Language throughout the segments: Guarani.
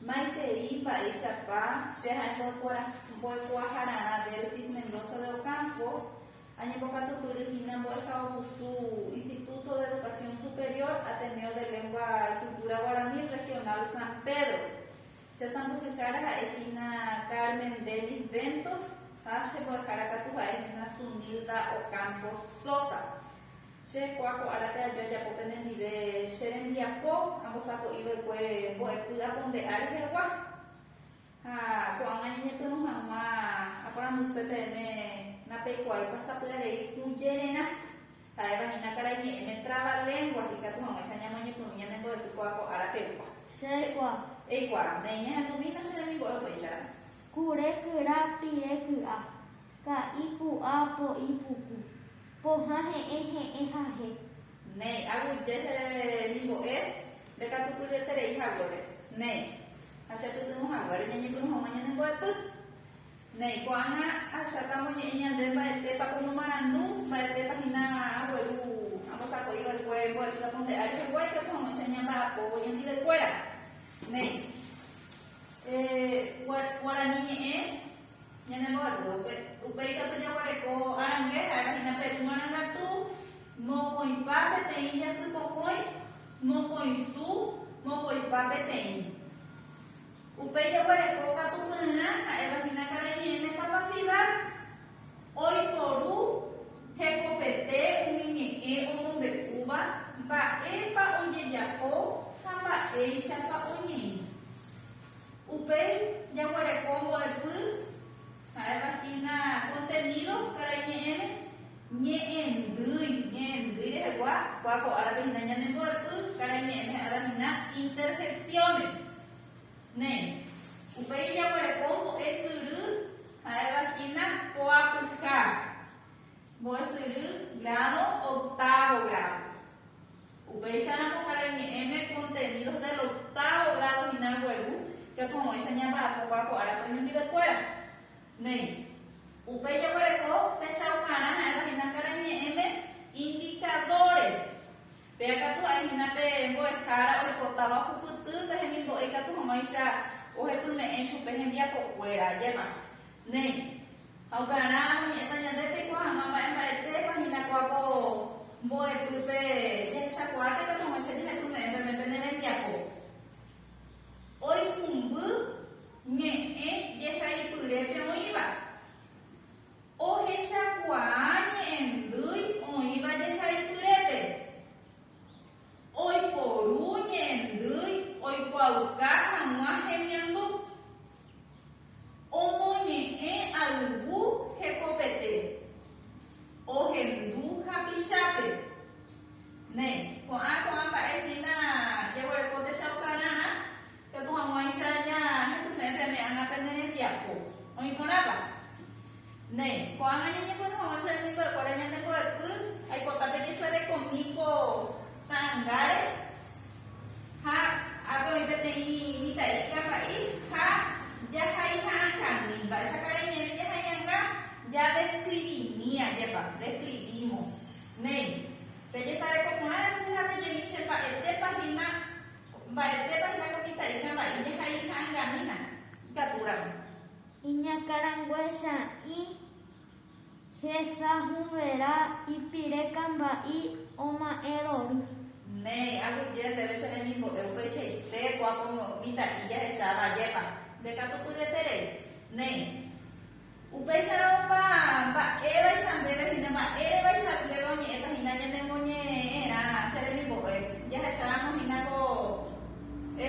Maitei mba'éichapa che ha'e mbo'ekuaahararã Delsis Mendoza de Ocampo, añembokatupyry hína mbo'ehaovusu Instituto de Educación Superior Ateneo de Lengua y Cultura Guaraní Regional San Pedro. Che sandukyhára ha'e hína Carmen Dennis Ventos ha che mbo'ehára katu ha'e hína Sunilda Ocampos Sosa. Che ko'a ko árape aju ajapo penendive che rembiapo ambosako'i va'ekue mbo'epy apo nde ári hegua. Ha ko'ág̃a ñañepyrũ hag̃ua aporanduse peẽme napeikuaáipa sapy'arei kũjererã. Ha'éva hína karai ñe'ẽme travaléngua ikatu hag̃uáicha ñamoñepyrũ ñane mbo'epy ko'a ko ára pegua. Che eikuaa. Eikuaa. Néi ñahendumína che remimbo'e upéicharamo. Kure kyra pire ky'a. Ka'i ku'a po'i puku. Pohã heẽ heẽ hahe. Néi, aguyje che remimbo'e ndekatukulyeterei haguére. Néi, ha che pytyvõ haguére ñañepyrũ hag̃ua ñane mbo'epy. Néi, ko'ág̃a aháta amoñe'ẽ ñande mba'etépa ko momarandu, mba'etépa hína agueru ambosako'i va'ekue mbo'epy aponde'a rehegua ikatu hag̃uáicha ñamba'apóvo ñandivekuéra. Néi. Guarani ñe'ẽ. Ñanembo'eguo upe, upe ikatu jaguareko arangue ha'éva hína Perú marangatu, mokõipa peteĩ jasy pokõi, mokõi su, mokõipa peteĩ. Upe jaguareko katu pyrã ha'éva hína Carañe'ẽme kapasida oiporu hekopete umi ñe'ẽ omombe'úva mba'épa ojejapo ha mba'éichapa oñeĩ. Upéi jaguereko mbo'epy, ha'éva hína kontenido karai ñe'ẽme, ñe'ẽndýi, ñe'ẽndýi rehegua, kua ko árape hína ñane mbo'epy karai ñe'ẽme ha'éva hína interjecciones. Néi, upéi jaguereko mbo'esyry, ha'éva hína poapyha, mbo'esyry grado, octavo grado. Upéicharamo karai ñe'ẽme contenidos del octavo grado hina gueru katu hag̃uáicha ñamba'apóva ko árape oñondivekuéra. Néi, upéi jaguereko techaukarã ha'éva hina karai ñe'ẽme indicadores. Péa katu ha'e hina pe mbo'ehára oipotáva ohupyty pe hemimbo'e katu hag̃uáicha ohepyme'ẽ chupe hembiapokuéra. Ajépa. Néi. Ha okarã oñe'ẽta ñande peiko hag̃ua mba'e mba'etépa hína ko apo mbo'epýpe jahechakuaáta katu hag̃uáicha jehayhume'ẽ peme pene rembiapo oikũmby ñe'ẽ jehaipyrépe oĩva. Ohechakuaa ñe'ẽndýi oĩva jehaipyrépe. Oiporu ñe'ẽndýi oikuaauka hag̃ua hemiandu. Omoñe'ẽ ayvu hekopete. Ohendu hapichápe. Ne, ko'ã ko'ã mba'e hína jaguereko techaukarãrã, katu hag̃uáicha ñahendume'ẽ pene ára pene rembiapo. Oĩ porãpa? Néi, ko'ág̃a ñañepyrũ hag̃ua che remimbo'ekuéra ñande mbo'epy, aipota pejesarekomi ko ta'angáre, ha ápe oĩ peteĩ mitã'i kapa'i, ha jahai ha'akãgui. Mba'éicha karai ñe'ẽme jahai ha'ãnga? Jadeskrivimi ajépa, deskrivímo. Néi, pejesareko porã rasýpe ha pejemi che mba'etépa hína, mba'etépa hína ko mitã'i kapa'i jahai ha'angamína ikatúramo. Iñakãranguéicha ĩ hesahũverã ipire kamba'i oma'ẽ rory. Néi, aguyje ndéve che remimbo'e upeichaite ko apomo mitã'i jahecháva ajépa, nde katu tujeterei. Néi, upéicharõ opa mba'évaicha ndéve hína mba'érevaicha ndéve oñe'ẽta hína ñane moñe'ẽrã che remimbo'e jahecháramo hína ko e.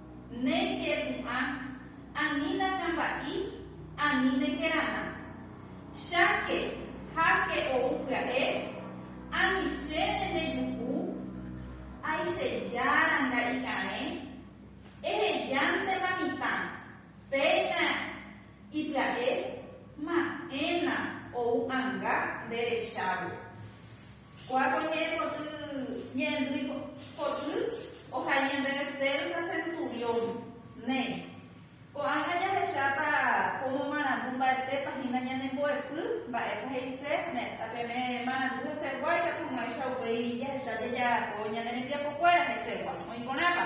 Ne ke pu'ã, ani nakamba'i, ani ne kerana. Cháke, háke ou pya'e, ani che ne ne juhu, ai che jára nga'i karẽ, ehejántema mitã, péina i pya'e, ma'ẽna ou anga nde rechávo. Kuáko ñe'ẽ poty ñe'ẽndýi poty ohai ñandéve Celsa Centurión. Né. Ko'ág̃a jahecháta cómo marandu mba'etépa hína ñane mbo'epy, mba'épa he'ise, ne, peme marandu hesegua ikatumo'ãicha upéi jahecha jajapo ñane rembiapokuéra hesegua. Oĩ porãpa?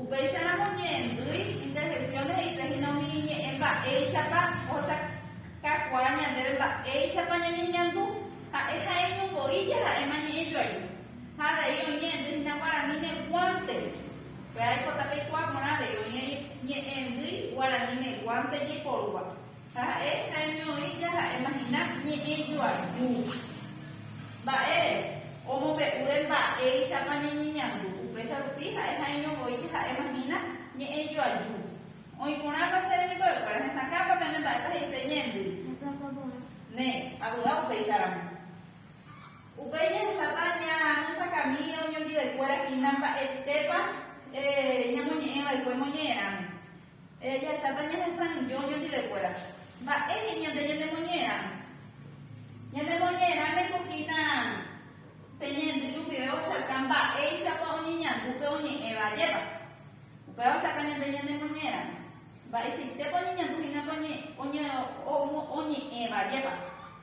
Upéicharamo oñe'ẽndýi intervenciones he'ise hína umi iñe'ẽ mba'éichapa ohechakakuaa ñandéve mba'éichapa ñañeñandu. Ha'e ha'éño voi jaha'éma ñe'ẽ joaju. Ha avei oñe'ẽndy hína guaraníme guánte. Pe aikota peikuaa porã avei oĩ ñe'ẽndýi guaraníme guánte jaiporúva. Ha ha'e ha'eño oĩ jaha'éma hína ñe'ẽ joaju. Mba'ére? Omombe'úre mba'éichapa ñañeñandu, upéicha rupi ha'e ha'eño voi jaha'éma hína ñe'ẽ joaju. Oĩ porãpa chéve niko ekuéra hesakãpa pene mba'épa he'ise ñeendy? Ne, avy'a upéicha ramo. Upéi jahecháta ñanesakãmi oñondive kuéra hína mba'etépa ñamoñe'ẽ va'ekue moñe'ẽ ramo. Ehecháta ñahesãijo ñandivekuéra. Mba'émi ñande ñanemoñe'ẽrã? Ñanemoñe'ẽrã ningo hína pe ñendy rupive ohechauka mba'éichapa oñeñandu pe oñe'ẽva ajépa. Upéva ohechauka ñande ñanemoñe'ẽrã mba'eichaitépa oñeñandu hína pe oñe'ẽva ajépa.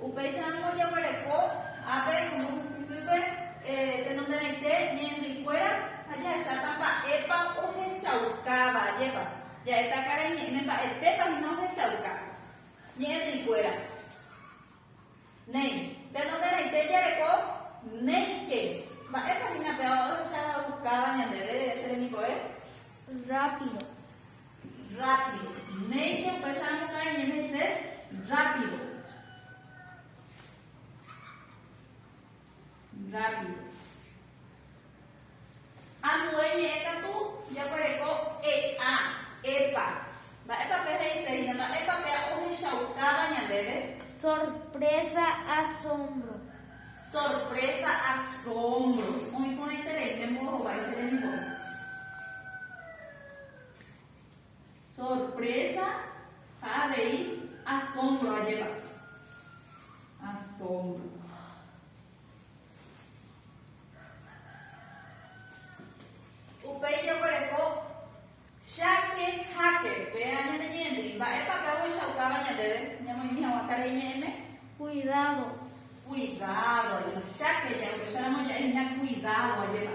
Upéicharamo ojeguereko ápe como hysýpe tenonderãite ñe'ẽndykuéra ha jahecháta mba'épa ohechaukáva. Ajépa ja'éta karai ñe'ẽme mba'etépa hína ohechauka ñe'ẽndykuéra. Néi, tenonderãite jareko néike. Mba'épa hína péva ohechaukáva ñandéve che remikove? Rápido. Rápido. Néike upecháramo iñeme'ẽse rápido. Rápido. Ambue ñe'ẽ katu jaguereko e'a, epa. Mba'épa pe he'iséine? Mba'épa pe a'u hechaukáva ñandéve? Sorpresa, asombro. Sorpresa, asombro. Oĩ porãiterei ne mbo'ehovái che rembiguái. Sorprésa ha avei asómbro ajépa. Asómbro. Upéi jaguereko cháke háke. Péva ñaneñe'ẽndýi, mba'épa pe ohechaukáva ñandéve ñamoĩmi hag̃ua karai ñe'ẽme? Kuidádo. Kuidádo ajépa. Cháke ja'éko upéicharamo ja'éhina kuidádo ajépa.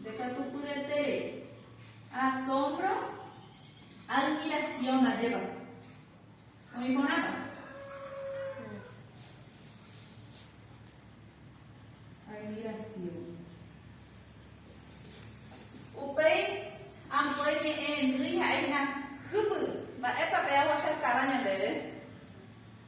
Ndekatukuñaiterei. Asombro, admiración ndajépa. Oĩ porãpa? Admiración. Upéi ambue ñe'ẽndýi ha'e hína, Hypy, mba'épa pe aguachatáva ñandéve?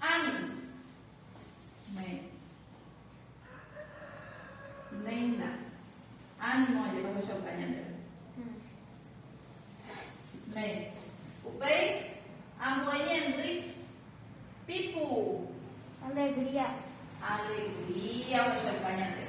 Ani. Néi. Néina. Ánimo ajepahechauka ñandéve. Néi. Upéi ambue ñendy pipu. Alegría. Alegría ohechauka ñandéve.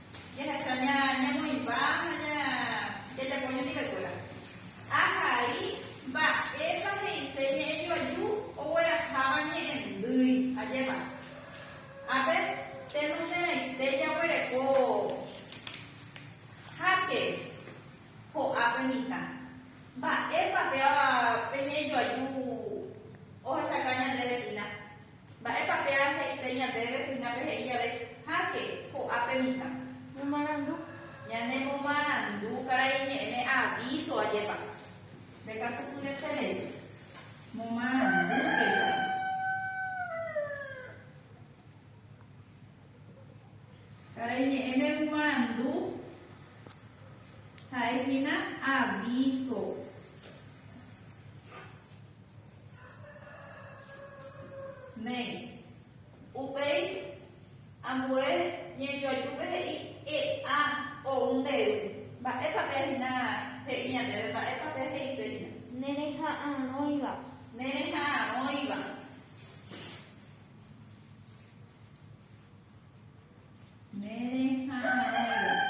Jahecha ñamoĩmba ha jajapo ñandivekuéra. Ahai mba'épa he'ise ñe'ẽjoaju ogueraháva ñe'ẽndýi. Ajépa. Ápe tenonderãite jaguereko háke ho'ápe mitã. Mba'épa péva pe ñe'ẽjoaju ohechaka ñandéve hína? Mba'épa péa he'ise ñandéve hína pe he'i jave, Háke, ho'ápe mitã. Ñomarandu. Ñane momarandu karai ñe'ẽme avíso ajépa. Nde káso kure che rei. Momarandu péicha. Karai ñe'ẽme momarandu ha'e hína avíso. Néi. Upéi ambue ñejoajúpe he'i e'a ou ndéve. Mba'épa pe hína he'i ñandéve? Mba'épa pe he'ise hína? Nereha'arõiva. Nereha'arõiva. Nereha'arõiva.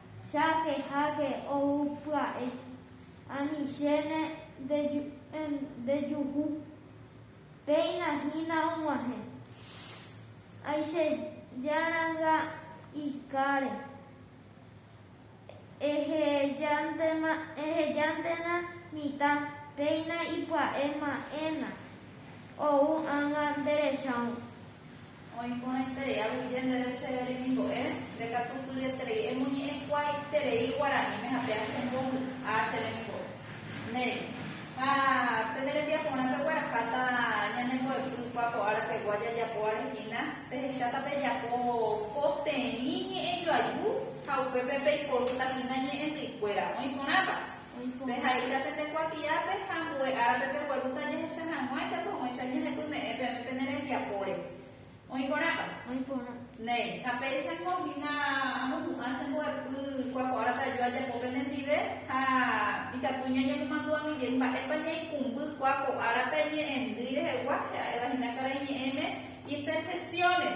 Cháke háke ou pya'e. Ani chéne nde juhu. Péina hína og̃uahẽ. Ay che jaranga ikáre. Ehejántena mitã péina ipya'e ma'ẽna ou ág̃a nderechao. Oĩporãiterei aguyje ndéve che remimbo'e, nde katu tujeterei emoñe'ẽkuaaiterei guaraníme ha péa che mboy a che remimbo'e. Néi. Ha pene rembiaporã pegueraháta ñane mboepy kua ko ára pegua jajapóvare hína, pehecháta pejapo poteĩ ñe'ẽjoaju ha upépe peiporúta hína ñe'ẽndyikuéra. Oĩporãpa? Peha'íta pende kuatiápe ha ambue árape peguerúta jahecha hag̃ua ijapyguẽicha ñehepyme'ẽ peẽme pene rembiapóre. Oĩ porãpa? Oĩ porã. Néi, ha péichango hína amohu'ã che mbo'epy kuakua'árape aju ajapo penendive ha ikatu ñañemomandu'a Miguel mba'épa ñaikũmby kuakua'árape ñe'ẽndýi rehegua, he'a'éva hína karai ñe'ẽme Interjecciones.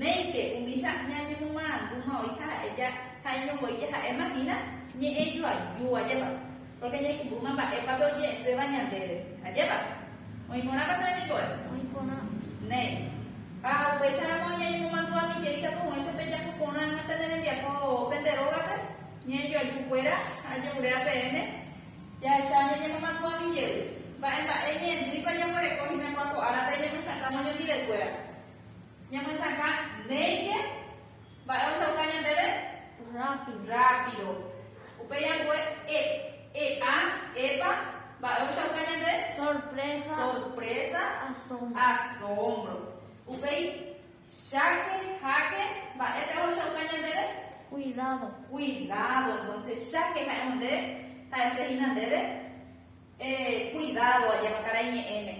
Néike, umícha ñañemomarandúma oĩ ha ha'e ja ha'éño voi jaha'éma hína ñe'ẽ joaju, ajépa? Pórke ñaikũmbrúma mba'épape oje'ẽséva ñandéve, ajépa? Oĩ porãpa che remimbo'e? Oĩ porã. Néi. Ha upéicharamo ñañemomandu ami jeýta pohõicha pe japu porã hag̃uáicha ne rembiapo pende rógape, ñe'ẽ joaju kuéra ha ajevuréva peẽme, jahecha ñañemomandu ami jey, mba'e mba'e ñe'ẽndýipa jaguereko hína kuaku árape ñamesakã moñondive kuéra. Ñamyesakã néike mba'e ohechauka ñandéve rápido. Upéi ambue e, e'a, epa, mba'e ohechauka ñande? Sorprésa, asómbro. Upéi cháke, háke, mba'épe ohechauka ñandéve? Kuidádo. Entónse cháke ha'e nde ha'ese hína ndéve. Ehe kuidádo ajépa karai ñe'ẽme,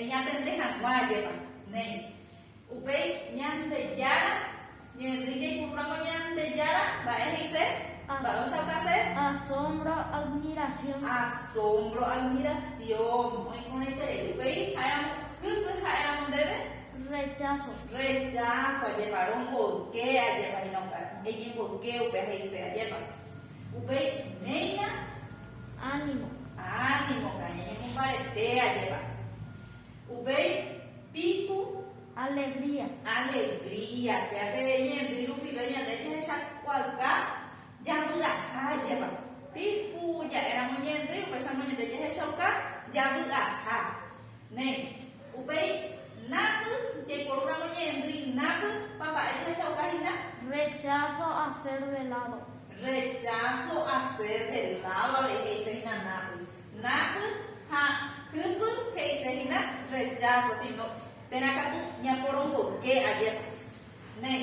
eñatende hag̃ua ajépa. Néi. Upéi Ñandejára ñe'ẽdýi jaipuru rango Ñandejára mba'e he'ise, mba'e ochaukase. Asómbro, admirasión. Asómbro, admirasión. Oĩporãiterei. Upéi ha'éramo hýkuri ha'éramo ndéve. Recháso. Recháso ajépa, romboyke ajépa hína upéva. Eñemboyke upéva he'ise ajépa. Upéi oiméirã. Ánimo. Ánimopa, ñañemombarete ajépa. Upéi piko. Alegría. Alegría. Péa pe ñe'ẽndy rupive ñande jahechakuaauka javy'aha ajépa. Piko ja'éramo ñe'ẽndy, upéicharamo ñande jahechauka javy'aha. Néi. Upéi, na'py, jaiporu ramo ñe'ẽndýi na'py, papa'e jahechauka hína. Rechazo a ser de lado. Rechazo a ser de lado avei he'ise hína na'py. Na'py ha kypy he'ise hína rechazo, sino térã katu ñaporomboyke ajépa. Néi.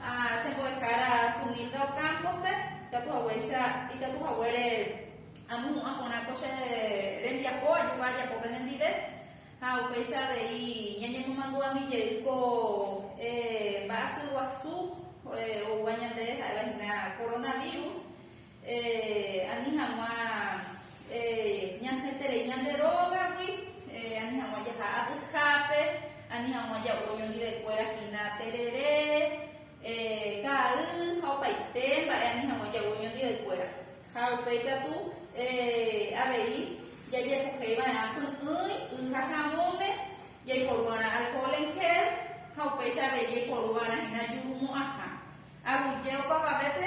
Ha che mbo'ehára Sunilda Ocampo-pe, itakuhaguéicha, itakuhaguére amohu'ã porã ko che rembiapo ajuka ajapo penendive, ha upéicha avei ñañemomandu'ami jey ko mba'asy guasu oúva ñandéve ha'éva hína coronavirus. Ani hag̃ua ñasẽterei ñande rógagui, ani hag̃ua jaha atyhápe, ani hag̃ua ja'u oñondivekuéra hína terere, ka'i ha opaite mba'e ani hag̃ua ja'u oñondivekuéra. Ha upéi katu avei jajepohéi va'erã py'ỹi y ha havõme, jaiporu va'erã alcohol en gel ha upéicha avei jaiporu va'erã hína jurumo'ãha. Aguyje opavavépe.